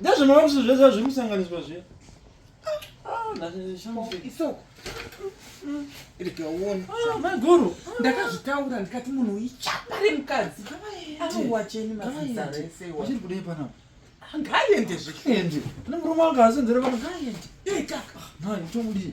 Ndezvemarusi zvese zviri kusanganiswa zviya. Isoko. Ndikaona. Ah, Maguru. Ndakazvitaura ndikati munhu ichapa remukadzi. Anowacheni mazita rese. Uchiri kudei panapa? Ngaende zvekuende. Kune murume wanga asenzera pano ngaende. Yei kaka. Nhai, tomudii?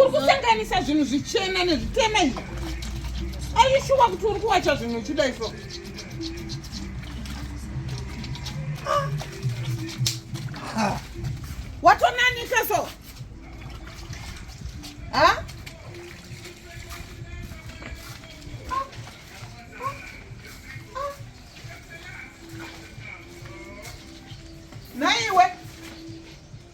uri kusanganisa zvinhu zvichena nezvitema izvi aishuwa kuti uri kuwacha zvinhu uchida iso watonanika so ha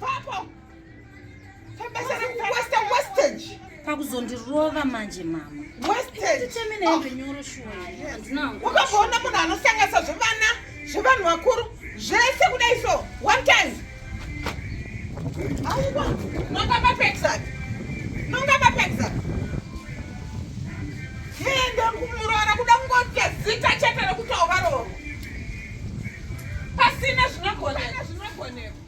Papa. pakuzondirova manje mama wakazoona munhu anosanganisa zvevana zvevanhu vakuru zvese kudai so one time aiwa nonga mapexak nonga mapexak ende kumuroora kuda kungoita zita chete rekutaovaroro pasina zvinogoneka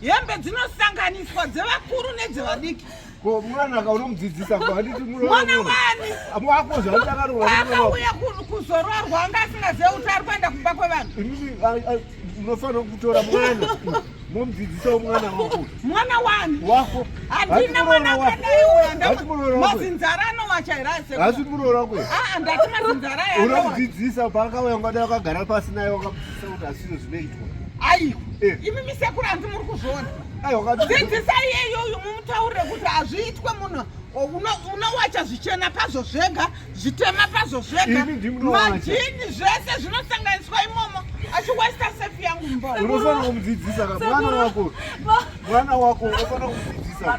hembe dzinosanganiswa dzevakuru nedzevadiki ko mwana ka unomudzidzisa ko handiti mwana wani wako zvaakaroaakauya kuzororwa anga asingazive kuti ari kuenda kumba kwevanhu unofanira kutora mwana momudzidzisawo mwana wako mwana wani wako handina mwana kweneyomazinzara anowacha here asi muroora kwe ah, ndati mazinzara unomudzidzisa paakauya ngada wakagara pasi naye Seuta asino zvinoitwa. Ai, eh. imi misekuru hanzi muri kuzviona. Ai, wakati. Dzidzisai iyeyo uyu mumutaurire kuti hazviitwe munhu unowacha zvichena pazvo zvega zvitema pazvo zvega majini zvese zvinosanganiswa imomo achiwesta sefi yangu mbounofana kumudzidzisa ka mwana wako mwana wako unofanira kumudzidzisa